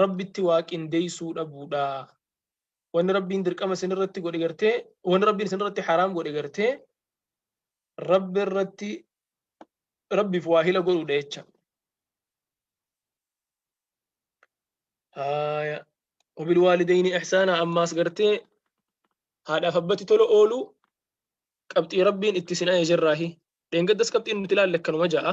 Rabbitti waa qindeessuu dhabuudha. Wanni Rabbiin dirqama isin irratti godhe gartee, wanni Rabbiin isin irratti haraam godhe gartee, Rabbi irratti Rabbiif waa hila godhuudha jecha. Haaya. Wabil waalidayni ihsaana ammaas gartee haadhaaf abbatti tola ooluu qabxii Rabbiin itti isin ajajerraahi. Dheengaddas qabxiin nuti ilaalle akkanuma ja'a.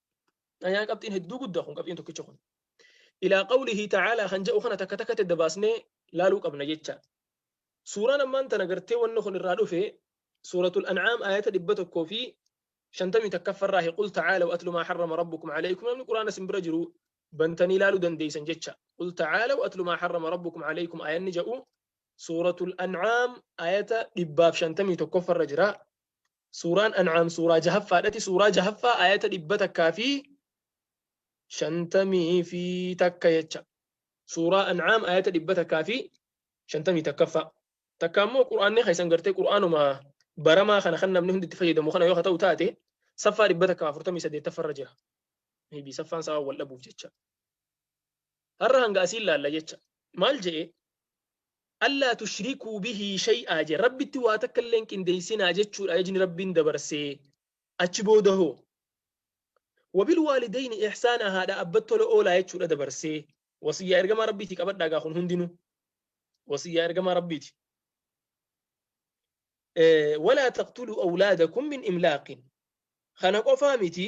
Ayaa qabxiin hedduu guddaa kun qabxiin tokkicha kun. Ilaa qawlihi ta'aalaa kan jedhu kana takka takkatti adda baasnee laaluu qabna jecha. Suuraan ammaan tana gartee wanni kun irraa dhufe suuratul an'aam ayata dhibba tokkoo fi shantamii takkaffarraa qul ta'aalaw atlu maa harrama rabbukum alaykum namni quraana sin bira jiru bantanii laaluu dandeeysan jecha. Qul ta'aalaw atlu maa harrama rabbukum alaykum ayanni jedhu suuratul an'aam ayata dhibbaaf shantamii tokkoffarra jira. Suuraan An'aam suuraa jahaffaadhati. Suuraa jahaffaa ayata dhibba takkaa fi shantamii fi takka jecha. Suuraa An'aam ayata dhibba takkaa fi shantamii takkaffaa. Takka ammoo Qur'aanni keessan gartee Qur'aanuma baramaa kana kan namni hundi itti fayyadamu kana yoo ta'u taate saffaa dhibba takkaa afurtamii saddeettaffarra jira. Maybe saffaan isaa wal dhabuuf jecha. Har'a hanga asiin laalla jecha. Maal je'e? Allaa tushrikuu bihii shay'aa je. Rabbitti waa takka illee hin qindeessinaa jechuudha ajajni Rabbiin dabarse. Achi booda hoo? Wabilwaalidayni ihsaanaa haadha abbatti tola oolaa jechuudha dabarsee. Wasiyyaa ergamaa Rabbiiti qabadhaa gaa kun hundinuu. Wasiyyaa ergamaa Rabbiiti. Walaa taqtuluu awlaadakum min imlaaqin. Kana qofaa miti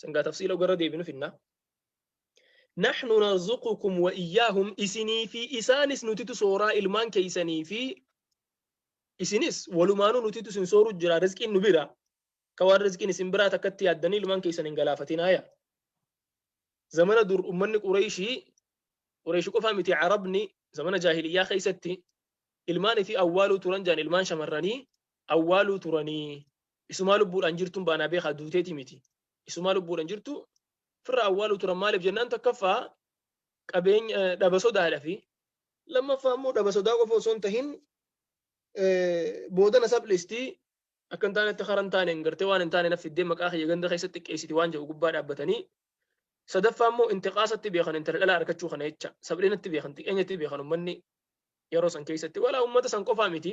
San gaa tafsiila ogarra deebinu finnaa. Naxnu narzuqukum wa iyyaahum isinii fi isaanis nutitu sooraa ilmaan keeysanii fi isinis walumaanuu nutitu isin sooru jira rizqiin nu bira ka waan rizqiin isin biraa takkatti yaaddanii ilmaan keeysan hin galaafatinaaya. Zamana dur ummanni Qureeyshii Qureeyshi qofaa miti Arabni zamana jaahiliyyaa keeysatti ilmaan fi awwaaluu turan jaan ilmaan shamarranii awwaaluu turanii Isumaa lubbuudhaan jirtuun baanaa beekaa duuteeti miti. Isumaa lubbuudhaan jirtu firra awwaaluu turan maaliif jennaan takkaffaa qabeenya dhaba sodaadhafi. Lammaffaa immoo dhaba sodaa qofa osoo hin tahin boodana saphlestii. Akka hin taanetti kara hin taaneen gartee waan hin taane naf fiddee maqaa kiyya ganda keessa xiqqeessiti waan jedhu gubbaa dhaabbatanii. Sadaffaa immoo intiqaasatti beekan intala dhalaa arkachuu kana jecha. Saphilinatti beekan xiqeenyatti beekan ummanni yeroo san keessatti. Walaa ummata san qofaa miti.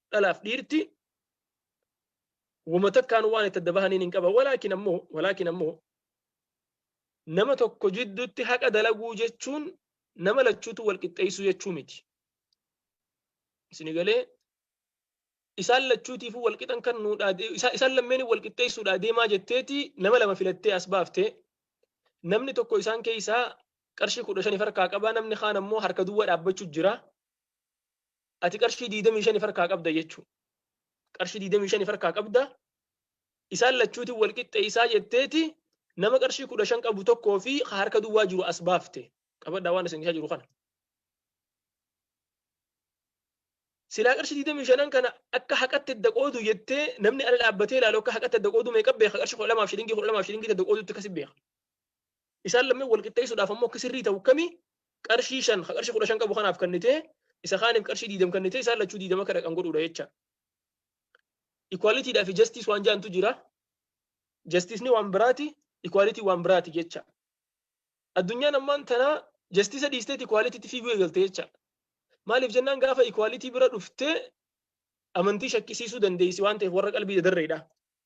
dhalaaf dhiirti wama takkaan waan itti adda bahaniin hin qaban walaakin ammoo walaakin ammoo nama tokko jidduutti haqa dalaguu jechuun nama lachuutu wal qixxeessuu jechuu miti. Isini galee isaan lachuutiifuu wal qixan kan nuudhaa isaan lammeen wal qixxeessuudhaa deemaa jetteeti nama lama filattee as baaftee namni tokko isaan keessaa qarshii kudha shaniif harkaa qabaa namni kaan ammoo harka duwwaa dhaabbachuu jira. ati qarshii 25 farkaa qabda jechuu qarshii 25 farkaa qabda isaan lachuutiin wal qixxeessaa jetteeti nama qarshii 15 qabu tokkoo fi harka duwwaa jiru as baafte qabadhaa waan isin jiru kana. Silaa qarshii 25 kana akka haqatti adda qoodu jettee namni ala dhaabbatee ilaalu akka haqatti adda qoodu meeqa beeka qarshii 12 shilingii 12 shilingii adda qoodutti kasi beeka. Isaan lameen wal qixxeessuudhaaf ammoo akki sirrii ta'u kami? Qarshii shan ka qarshii kudha shan qabu kanaaf kannitee isa kaaniif qarshii diidam kannitee isaan lachuu diidama akka dhaqan godhuudha jecha. Equality dhaa fi justice waan jaantu jira. Justice ni waan biraati, equality waan biraati jecha. Addunyaan ammaan tanaa justice dhiisteeti equality tti fiiguu eegalte jecha. Maaliif jennaan gaafa equality bira dhuftee amantii shakkisiisuu dandeessi waan ta'eef warra qalbii dadarreedha.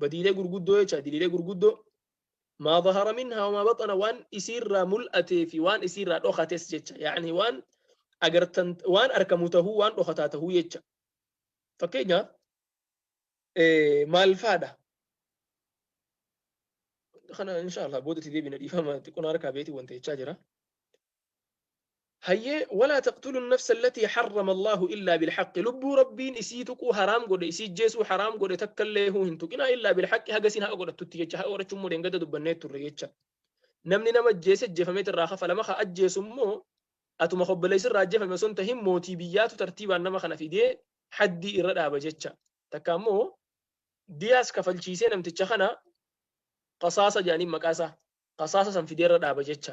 badiilee gurguddoo jecha diliilee gurguddoo maa zahara minhaa wamaa baxana waan isiirraa mul'atee fi waan isiirraa dhokates jecha yaani waan agartan waan arkamu tahuu waan dhokataa tahuu jecha fakkeenyaaf maal faadha kana insha Allah boodatti deebina dhiifama xiqqoon harkaa beetii wanta jechaa jira hayyee walaa taqtuluu nafsa allatii harrama allaahu illaa bilhaqqi lubbuu rabbiin isii tuquu haraam godhe isii ijjeesuu haraam godhe takka illee huu hin tuqinaa illaa bilhaqqi haga isiin haqa godhattutti jecha haqa godhachuu immoo dheengadda dubbannee turre jecha namni nama ajjeese ajjeefameet irraa kafalama ka ajjeesu immoo atuma hobboleessi irraa ajjeefame osoo hin tahin mootii biyyaatu tartiibaan nama kana fidee haddii irra dhaaba jecha takka immoo diyaas kafalchiisee namticha kana qasaasa jedhaniin maqaa isaa qasaasa san fidee irra dhaaba jecha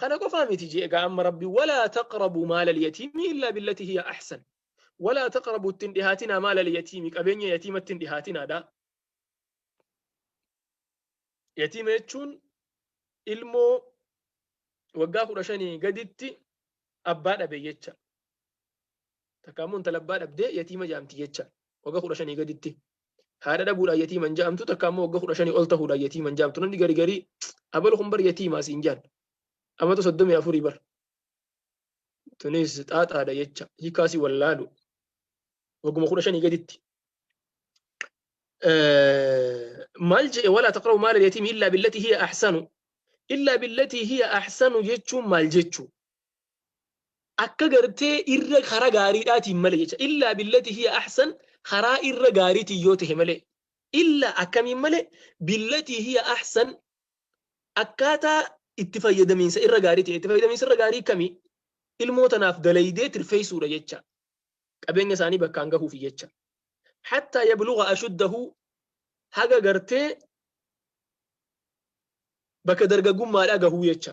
Kana qofaa miti jee egaa amma rabbi walaa taqrabu maala liyatiimi illaa billati hiya ahsan. Walaa taqrabu ittiin dhihaatinaa maala liyatiimi qabeenya yatiima ittiin dhihaatinaadha. Yatiima jechuun ilmoo waggaa kudha shanii gaditti abbaa dhabe jecha. Takka ammoo intala abbaa dhabdee yatiima jaamti jecha. Waggaa kudha shanii gaditti haadha dhabuudhaan yatiiman ja'amtu takka ammoo wagga kudha shanii ol tahuudhaan yatiiman ja'amtu namni gari garii abal kun bar yatiimaa siin jaan amata soddomii afurii bar tunis xaaxaadha jecha hiikaasi wallaalu wagguma kudha shanii gaditti maal je'e walaa taqrabu maala yatiimi illaa billatii hiya ahsanu illaa billatii hiya ahsanu jechuun maal jechuu akka gartee irra karaa gaariidhaatiin malee jecha illaa billati hiya ahsan karaa irra gaariitiin yoo ta'e malee illaa akkamiin malee billati hiya ahsan akkaataa itti fayyadamiinsa irra gaariitiin itti fayyadamiinsa irra gaarii kamii ilmoo tanaaf dalaydee tirfeessuudha jecha qabeenya isaanii bakkaan gahuuf jecha hattaa yabluga ashuddahu haga gartee bakka dargaggummaadhaa gahuu jecha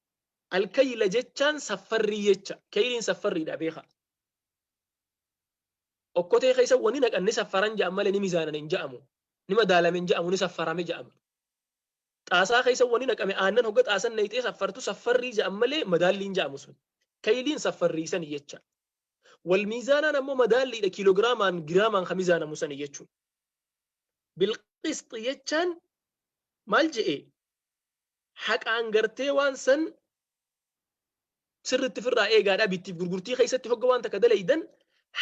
Alkayla jechaan saffarrii jecha. Keyliin saffarriidha beeka. Okkotee keessa wani naqan ni saffaran ja'an malee ni mizaanan hin ja'amu. Ni madaalame hin ja'amu ni saffarame ja'ama. Xaasaa keessa wani naqame aannan hogga xaasan nayxee saffartu saffarrii ja'an malee madaallii hin ja'amu sun. Keyliin saffarrii sani jecha. Wal miizaanaan ammoo madaalliidha kiilogiraamaan giraamaan ka mizaanamu sani jechuudha. Bilqisxi jechaan maal je'e? haqaan gartee waan san sirritti firraa eegaadha bittiif gurgurtii keessatti hogga waan takka dalaydan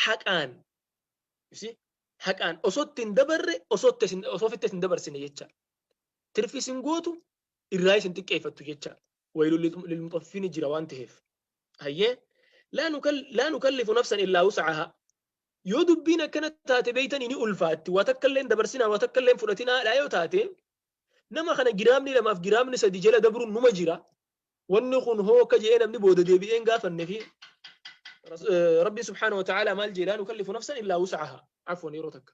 haqaan haqaan osootti hin dabarre osoofitti hin dabarsine jecha tirfis hin gootu irraa isin xiqqeeffattu jecha waylu lilmuxaffiini jira waan ta'eef hayyee laa nukallifu nafsan illaa wusacahaa yoo dubbiin akkana taate beeytanii ni ulfaatti waa takka illee dabarsinaa waa takka illee fudhatinaa dhaa yoo taate Nama kana giraamni lamaaf giraamni sadi jala dabruun numa jira. Wanni kun hoo akka je'ee namni booda deebi'ee hin gaafanne fi Rabbiin subhaana wa ta'aalaa maal jee laa nukallifu nafsan illaa wus'ahaa. Afwan yeroo takka.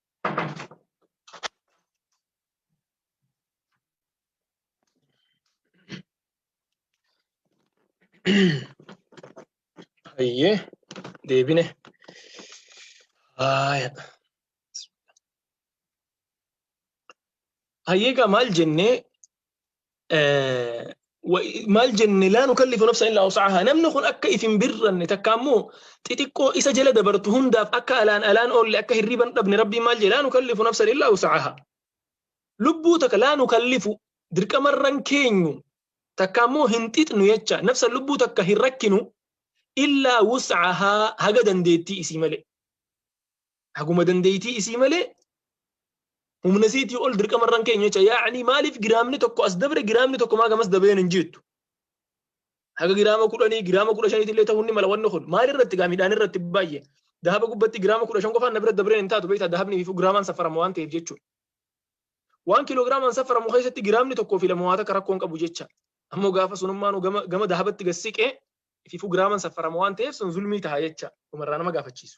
Hayyee deebine. Haaya. Hayyee egaa maal jennee maal jenne laa nukallifu nafsa illaa wus'ahaa namni kun akka if hin birranne takka ammoo xixiqqoo isa jala dabartu hundaaf akka alaan alaan oolle akka hirriban dhabne rabbiin maal jedhe laa nukallifu nafsa illaa wus'ahaa lubbuu takka laa nukallifu dirqamarran keenyu takka ammoo hin xixnu jecha nafsa lubbuu takka hin rakkinu illaa wus'ahaa haga dandeettii isii malee Haguma dandeeytii isii malee humna isiitii ol dirqama irra hin keenyu jecha yaa'anii maaliif giraamni tokko as dabre giraamni tokko maa gamas dabreen hin jettu. Haga giraama kudhanii giraama kudha shaniitti illee ta'uu ni mala wanni kun maal irratti gaa midhaan irratti baay'ee dahaba gubbatti giraama kudha shan qofaan na bira dabreen hin taatu beektaa dahabni fi giraamaan safarama waan ta'eef jechuudha. Waan kiloogiraamaan safaramu keessatti giraamni tokkoo fi lama waa takka rakkoon qabu jecha ammoo gaafa sunummaan gama dahabatti gad siqee fi giraamaan safarama waan ta'eef sun zulmii taha jecha dhumarraa nama gaafachiisu.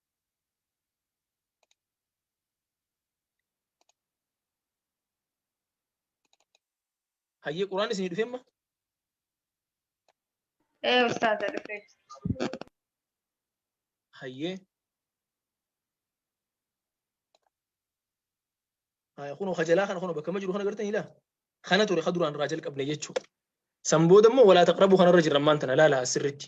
hayyee quraan isinii dhufemma ee ustaaza dhufee hayyee haya kunoo kajalaa kana kunoo bakka ma jiru kana gartan ilaa kana ture ka duraan irraa jalqabne jechuu san booda immoo walaa taqrabuu kanarra jirra ammaan tana laala asirritti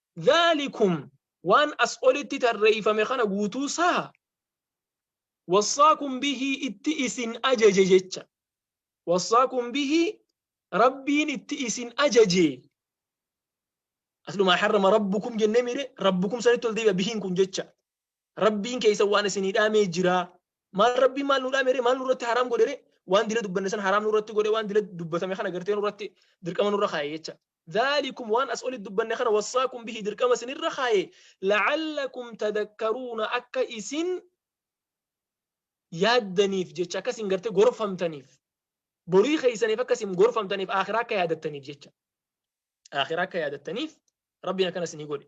dhaalikum waan as olitti tarreeyfame kana guutuu saha wassaakum bihii itti isin ajaje jecha wassaakum bihii rabbiin itti isin ajaje aslumaa harrama rabbukum jennee miire rabbukum sanitti ol deebi'a bihiin kun jecha rabbiin keeysan waan isinii dhaamee jiraa maal rabbiin maal nuu dhaamere maal nurratti haraam godhere waan dila dubbanne san haraam nurratti godhe waan dila dubbatame kana gartee nurratti dirqama nurra kaa'e jecha ذَٰلِكُمْ Waan as olitti dubbanne kana wassaakum bihi dirqama isin irra kaaye la'allakum tadakkaruuna akka isin yaaddaniif jecha akka isin gartee gorfamtaniif borii keessaniif akka isin gorfamtaniif aakhiraa akka yaadattaniif jecha aakhiraa akka yaadattaniif rabbiin akkana isinii godhe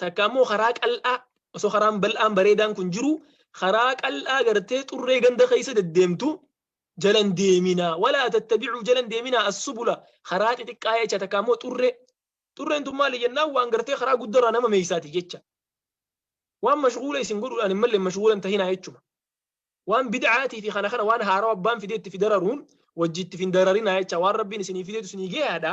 takka ammoo karaa qal'aa osoo karaan bal'aan bareedaan kun jiru karaa qal'aa gartee xurree ganda keessa deddeemtu jalan deeminaa walaa tattabicuu jalan deeminaa assubula karaa xixiqqaa jecha takka ammoo xurree xurreen tun maali jennaan waan gartee karaa guddarraa nama meeysaati jecha waan mashguula isin godhuudhaan hin malle mashguulan tahinaa jechuma waan bid'aatii fi kana kana waan haarawa abbaan fideetti fi dararuun wajjiitti fi hin dararinaa jecha waan rabbiin isinii fideetu isinii geeyaadha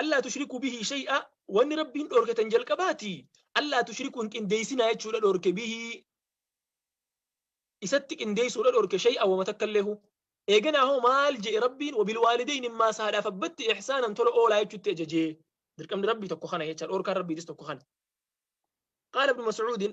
Allaa tushrikuu bihii shay'a wanni rabbiin dhoorke tan jalqabaati allaa tushrikuu hin qindeeysinaa jechuudha dhoorke bihii isatti qindeeysuudha dhoorke shay'a wama takka illee huu eeganaa hoo maal je'e rabbiin wabil waalidayn immaas haadhaaf abbatti ihsaanan tola oolaa jechuutti ajajee dirqamni rabbii tokko kana jecha dhoorkaan rabbiitis tokko kana qaala ibnu mas'uudin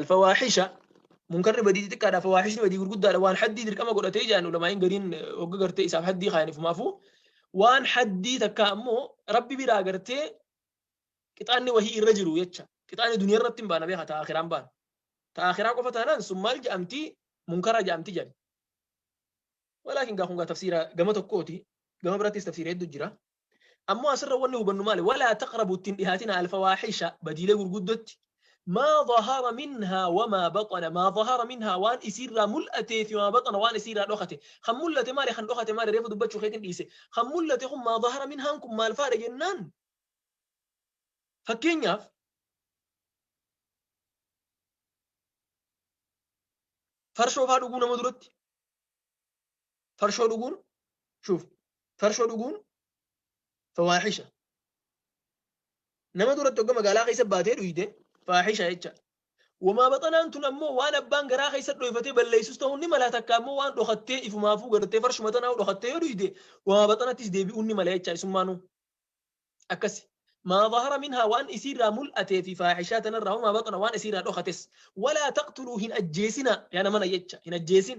Alfawaahisha munkarri badii xixiqqaadha fawaahishni badii gurguddaadha waan haddii dirqama godhatee jedhan ulamaa'iin gariin hogga gartee isaaf haddii kaayanifumaafuu waan haddii takka ammoo rabbi biraa gartee qixaanni wahii irra jiru jecha qixaanni duniyaa irratti hin baana beeka ta'a akiraan baana ta'a akiraa qofa taanaan sun maal jedhamti munkara jedhamti jedhan walaakin gaa kun gaa tafsiira gama tokkooti gama birattis tafsiira hedduu jira Ammoo asirra wanni hubannu maali? Walaa taqrabu ittiin dhihaatina alfawaaxisha badiilee gurguddotti. Maa zahara minhaa wamaa baxana maa zahara minhaa waan isiirraa mul'atee fi maa baxana waan isiirraa dhokate. Kan mul'ate maali? Kan dhokate maali? Reefu dubbachuu keetiin dhiise. Kan mul'ate kun maa zahara minhaan kun maal faadha jennaan? Fakkeenyaaf farshoo faa dhuguu nama duratti farshoo dhuguun shuuf farshoo dhuguun fawaahisha nama duratti hogga magaalaa keessa baatee dhuyde faahisha jecha wamaa baxanaan tun ammoo waan abbaan garaa keessa dhoyfatee balleessus ta'uun ni mala takka ammoo waan dhokattee ifumaafuu gartee farshuma tanaa dhokattee yoo dhuyde wamaa baxanattis deebi'uun ni mala jecha isummaanuu akkasi maa zahara minhaa waan isiirraa mul'atee fi faahishaa tanarraa wamaa baxana waan isiirraa dhokates walaa taqtuluu hin ajjeesina yaa namana jecha hin ajjeesin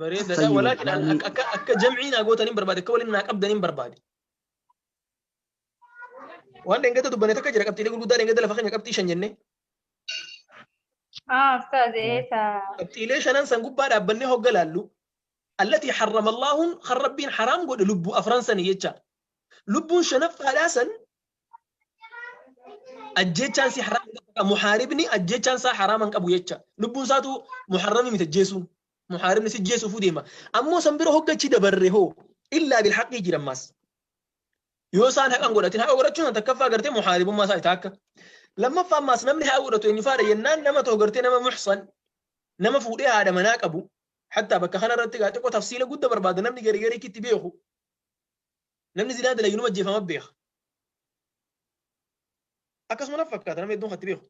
Bareedadha. Fayyoo, Walaakin an- baay'ee- akka- akka akka jam'ii naa gootan hin barbaade, akka waliin naa qabdan hin barbaade. Waan dhengata dubbanne takka jira qabxiilee gurguddaa dhengata lafa keenya qabxii shan jennee. Ah, ustaaz, ee, taa. Qabxiilee shanan san gubbaa dhaabbannee hogga laallu. Allatii harrama Allaahuun kan Rabbiin haraam godhe lubbuu afran sani jecha. Lubbuun shanaffaadhaa san ajjechaan si haraam hin qabu. Muhaaribni ajjechaan isaa haraama hin qabu jecha. Lubbuun isaatu muharrami miti ajjeesuun. muhaaribni si jeesuufuu deema ammoo san bira hoggachi dabarre hoo illaa bil haqii jira ammaas yoo isaan haqan godhatin haqa godhachuun san takkaffaa gartee muhaaribummaa isaa itaakka lammaffaa ammaas namni haqa godhatu eenyu faadha jennaan nama ta'u gartee nama muxsan nama fuudhee haadha manaa qabu hattaa bakka kanarratti gaa xiqqoo tafsiila gudda barbaada namni garigarii kitti beeku Namni zinaa dalagu numa ajjeefama beeka. Akkasuma naf fakkaata namni hedduun kan itti beeku.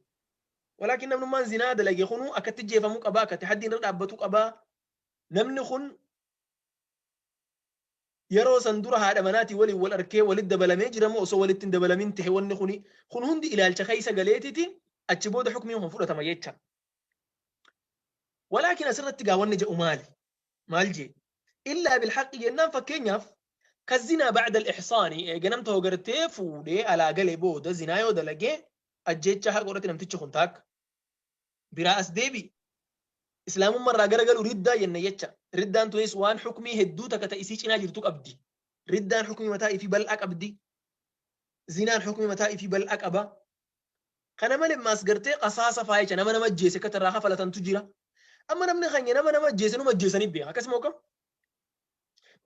Walaakin namnummaan zinaa dalage kunuu akka itti ajjeefamu qabaa, akka itti haddiin irra dhaabbatu qabaa. Namni kun yeroo san dura haadha manaatii waliin wal arkee walitti dabalamee jira moo osoo walitti hin dabalamin ta'e wanni kuni kun hundi ilaalcha keessa galeetiti achi booda hukmiin kun fudhatama jecha. Walaakin asirratti gaa wanni jedhu maali? maal jee illaa bilhaqi jennaan fakkeenyaaf ka zinaa bacda alixsaani eega namta hogartee fuudhee alaa gale booda zinaa yoo dalagee ajjeechaa haqa irratti namtichi kun taakka biraa as deebi islaamumma irraa gara galu riddaa jenna jecha riddaan tunis waan xukmii hedduu takka ta isii cinaa jirtu qabdi riddaan xukmii mataa ifii bal'aa qabdi zinaan xukmii mataa ifii bal'aa qaba Kana male ammaas gartee qasaasa faa jecha nama nama ajjeese akka irraa kafalatantu jira. Amma namni keenya nama nama ajjeese numa ajjeesanii beeka akkas moo kam?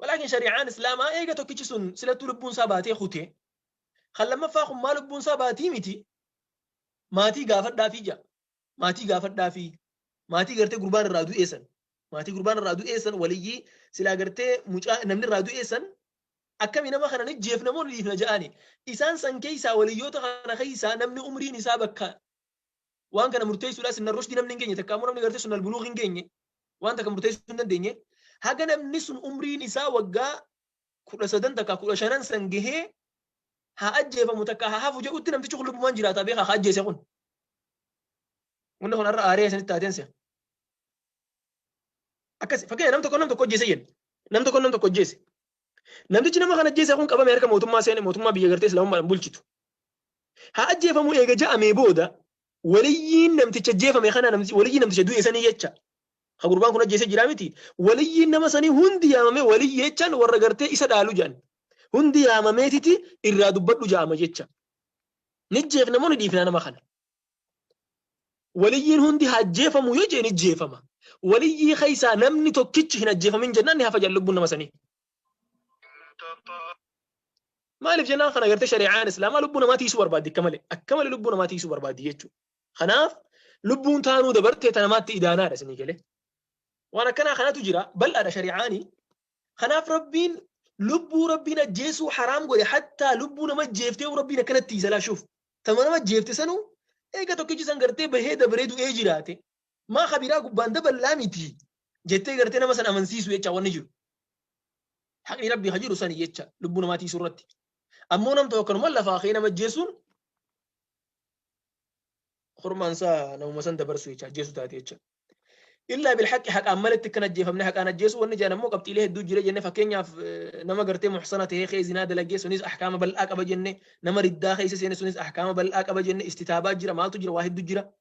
Walaakin shari'aan islaamaa eega tokkichi sun silattuu lubbuun isaa baatee kute kan lammaffaa kun maa lubbuun isaa baatii miti maatii gaafadhaafii jaa. maatii gaafadhaafii maatii gartee gurbaan irraa du'ee san maatii gurbaan irraa du'ee san waliyyii silaa gartee mucaa namni irraa du'ee san akkami nama kana ni jeefna moo ni dhiifna ja'aani isaan san keessaa waliyyoota kana keessaa namni umriin isaa bakka waan kana murteessuudhaa sinna rushdi namni hin geenye takka ammoo namni gartee sun albuluuq hin geenye waan takka murteessuu hin dandeenye haga namni sun umriin isaa waggaa kudha sadan takka kudha shanan san gahee haa ajjeefamu takka haa hafu jedhutti namtichi kun lubbumaan jiraata beekaa haa ajjeese kun. Wanni kun har'a aaree isinitti taateen se'a. Akkas fakkeenya nam tokko nam tokko ajjeese jenna. Nam tokko nam tokko ajjeese. Namtichi nama kana ajjeese kun qabame harka mootummaa seene mootummaa biyya gartee islaamummaadhaan bulchitu. Haa ajjeefamu eega ja'amee booda waliyyiin namticha jeefame kana namti- waliyyiin namticha du'e sanii jecha ka gurbaan kun ajjeese jiraa miti waliyyiin nama sanii hundi yaamamee waliyyi jechaan warra gartee isa dhaalu jedhan hundi yaamameetiti irraa dubbadhu ja'ama jecha ni jeefna moo ni dhiifnaa nama kana waliyyiin hundi haa ajjeefamu yoo jee ni jeefama waliyyii keessaa namni tokkichi hin ajjeefamin jennaan ni hafa jedhan lubbuun nama sanii Maaliif jennaan kana gartee shari'aan islaamaa lubbuu namaa tiisuu barbaaddi akka malee akka malee lubbuu namaa tiisuu barbaaddi jechuudha. Kanaaf lubbuun taanuu dabartee ta namaatti idaanaadha isinii galee. Waan akkanaa kanatu jira bal'aadha shari'aanii. Kanaaf rabbiin lubbuu rabbiin ajjeesuu haraam godhe hattaa lubbuu nama ajjeeftee rabbiin akkanatti isalaashuuf. Tama nama ajjeefte sanuu eega tokkichi san gartee bahee dabaree du'ee jiraate Maa ka biraa gubbaan daballaa miti jettee gartee nama sana amansiisu jecha wanni jiru. Haqni rabbii ka jiru sani jecha lubbuu namaa tiisuu irratti. Ammoo nam tokko akkanuma lafaa ka'ee nama ajjeesuun hormaan isaa namuma san dabarsu jecha ajjeesu taate jecha. Illaa bil haqqi haqaan maletti kan ajjeefamne haqaan ajjeesu wanni jedhan ammoo qabxiilee hedduu jira jenne fakkeenyaaf nama gartee muhsana ta'ee kee zinaa dalagee sunis ahkaama bal'aa qaba jenne nama riddaa keessa seene sunis ahkaama bal'aa qaba jenne istitaabaa jira maaltu jira waa hedduu jira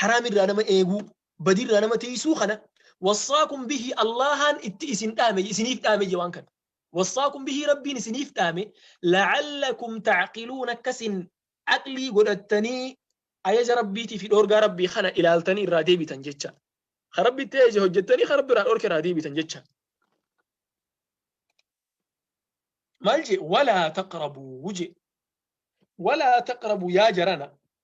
haraam irraa nama eeguu badii irraa nama tiysuu kana wassaakum bihi allahaan itti isin dhaame isiniif dhaame je waan kana wassaakum bihi rabbiin isiniif dhaame la'allakum ta'qiluun akkasin aqlii godhattanii ajaja rabbiitii fi dhoorgaa rabbii kana ilaaltanii irraa deebitan jecha ka rabbi itti ajaje hojjettanii ka rabbi irraa dhoorke irraa deebitan jecha maal je walaa taqrabuu je walaa taqrabu yaa jarana